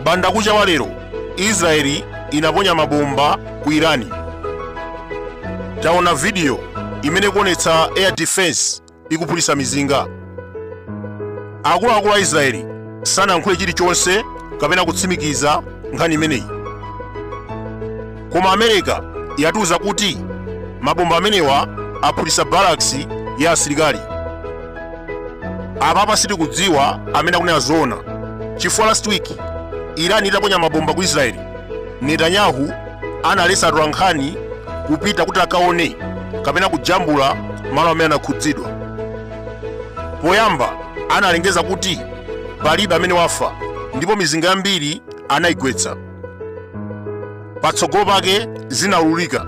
bandakucha wa lero israeli inaponya mabomba ku irani taona vidiyo imene ikuonetsa air defense ikuphulitsa mizinga. Akuluakulu a Israeli sanayankhule chilichonse kapena kutsimikiza nkhani imeneyi. Koma America yatiuza kuti mabomba amenewa aphulitsa barracks ya asilikali. Apapa sitikudziwa amene akunena zoona. Chifukwa last week Iran itaponya mabomba ku Israeli, Netanyahu analetsa atolankhani kupita kuti akaone kapena kujambula malo amene anakhudzidwa poyamba analengeza kuti palibe amene wafa ndipo mizinga yambiri anayigwetsa patsogolo pake zinaululika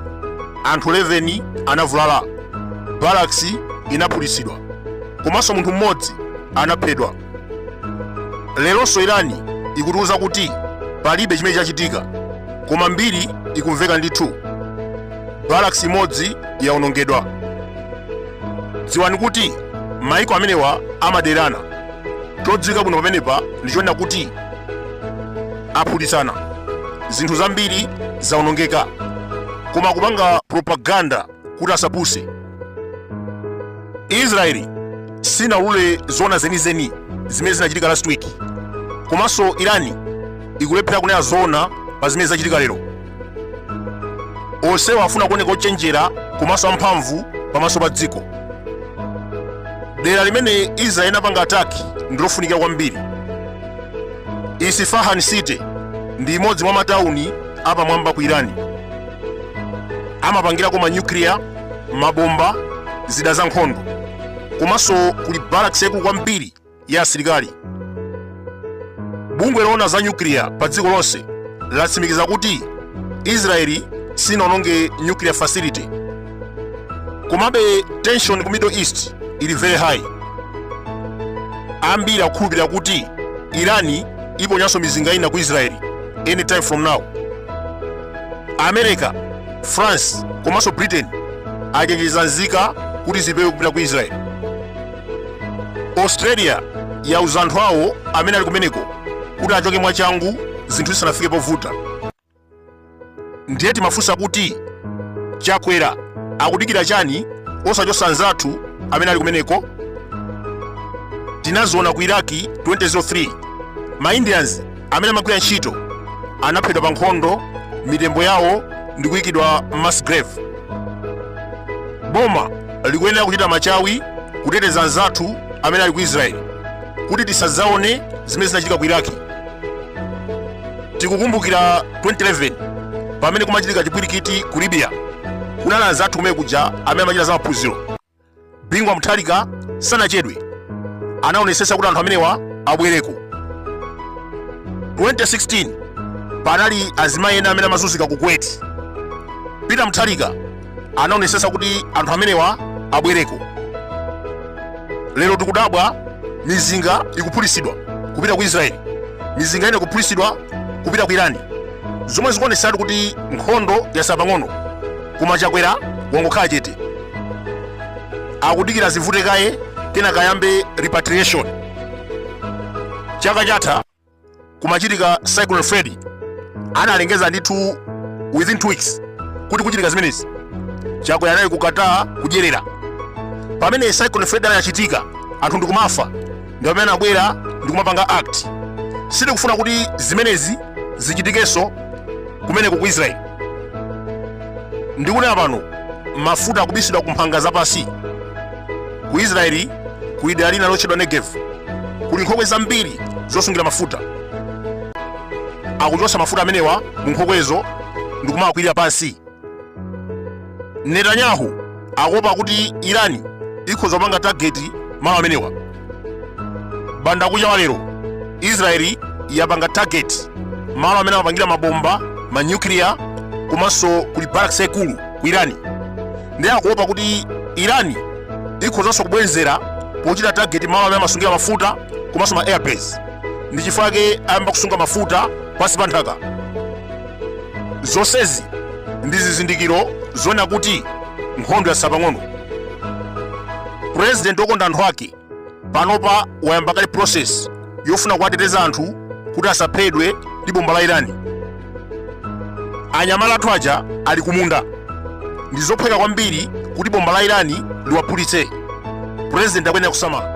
anthu 11 anavulala barracks inaphulitsidwa komanso munthu mmodzi anaphedwa leronso irani ikutiuza kuti palibe chimene chachitika koma mbiri ikumveka ndithu barracks imodzi yawonongedwa dziwani kuti maiko amenewa amaderana chodziwika bwino pamenepa ndi chonena kuti aphulitsana zinthu zambiri zawonongeka koma kupanga propaganda kuti asapuse israeli sinaulule zoona zenizeni zimene zinachitika last week komanso irani ikulephera kunena zoona pa zimene zachitika lero onsewa afuna kuoneka ochenjera komanso amphamvu pamaso pa dziko dera limene israeli inapanga ataki ndilofunikira kwambiri isfahan city ndi imodzi mwa matawuni apamwamba ku irani amapangirako manyukliya mabomba zida za nkhondo komanso kuli barracks yaikulu kwambiri ya asilikali bungwe loona za nyukliya pa dziko lonse latsimikiza kuti israeli sinaononge nuclear facility komabe tension ku middle east ili very high ambiri akukhulupirira kuti irani iponyanso mizinga ina ku israeli anytime from now america france komanso britain achenjeza nzika kuti zipewe kupita ku israeli australia yauza anthu awo amene ali kumeneko kuti achoke mwachangu zinthu zisanafike povuta ndiye timafunsa kuti chakwera akudikira chani osachotsa anzathu amene ali kumeneko tinaziona ku iraki 2003 ma indians amene amagwira ntchito anaphedwa pa nkhondo mitembo yawo ndi kuyikidwa mass grave boma likuyenera kuchita machawi kuteteza anzathu amene ali ku israeli kuti tisadzaone zimene zinachitika ku iraki tikukumbukira 2011 pamene kumachitika chipwirikiti ku libya kunali anzathu kumene kuja amene amachita za maphunziro bingu wa mutharika sanachedwe anaonetsetsa kuti anthu amenewa abwereko 2016 panali azimayi ena amene amazunzika ku kuwait peter mutharika anaonetsetsa kuti anthu amenewa abwereko lero tikudabwa mizinga ikuphulitsidwa kupita ku israeli mizinga ina ikuphulitsidwa kupita ku irani zomwe zikuonetsatu kuti nkhondo yatsala pang'ono koma chakwera wangokhala chete akudikira zivute kaye kenaka ayambe repatriation chaka chatha kumachitika cyclone freddy inalengezedwa ndithu within two weeks kuti kuchitika zimenezi chakwera anali ku qatar kudyerera pamene cyclone freddy anachitika anthu ndikumafa ndi pamene anabwera ndi kumapanga act sitikufuna kuti zimenezi zichitikenso kumeneko ku israeli ndikunena pano mafuta akubisidwa ku mphanga zapansi ku israeli kuli dera lina lotchedwa negev kuli nkhokwe zambiri zosungira mafuta akuchotsa mafuta amenewa mu nkhokwezo ndi kumawakwirira pansi netanyahu akuopa kuti irani ikhoza kupanga tageti malo amenewa mbandakucha wa lero israeli yapanga tageti malo amene amapangira mabomba manyukiliya komanso kuli barracks yaikulu ku irani ndiye akuopa kuti irani ikhozanso kubwenzera pochita tageti malo amene amasungira mafuta komanso ma airbase ndi chifukwa chake ayamba kusunga mafuta pansi pa nthaka zonsezi ndi zizindikiro zonena kuti nkhondo yatsala pang'ono president wokonda anthu ake panopa wayamba kale process yofuna kuwateteza anthu kuti asaphedwe ndi bomba la irani anyamata athu aja ali kumunda ndi zophweka kwambiri kuti bomba la irani liwaphulitse president akuyenera kusamala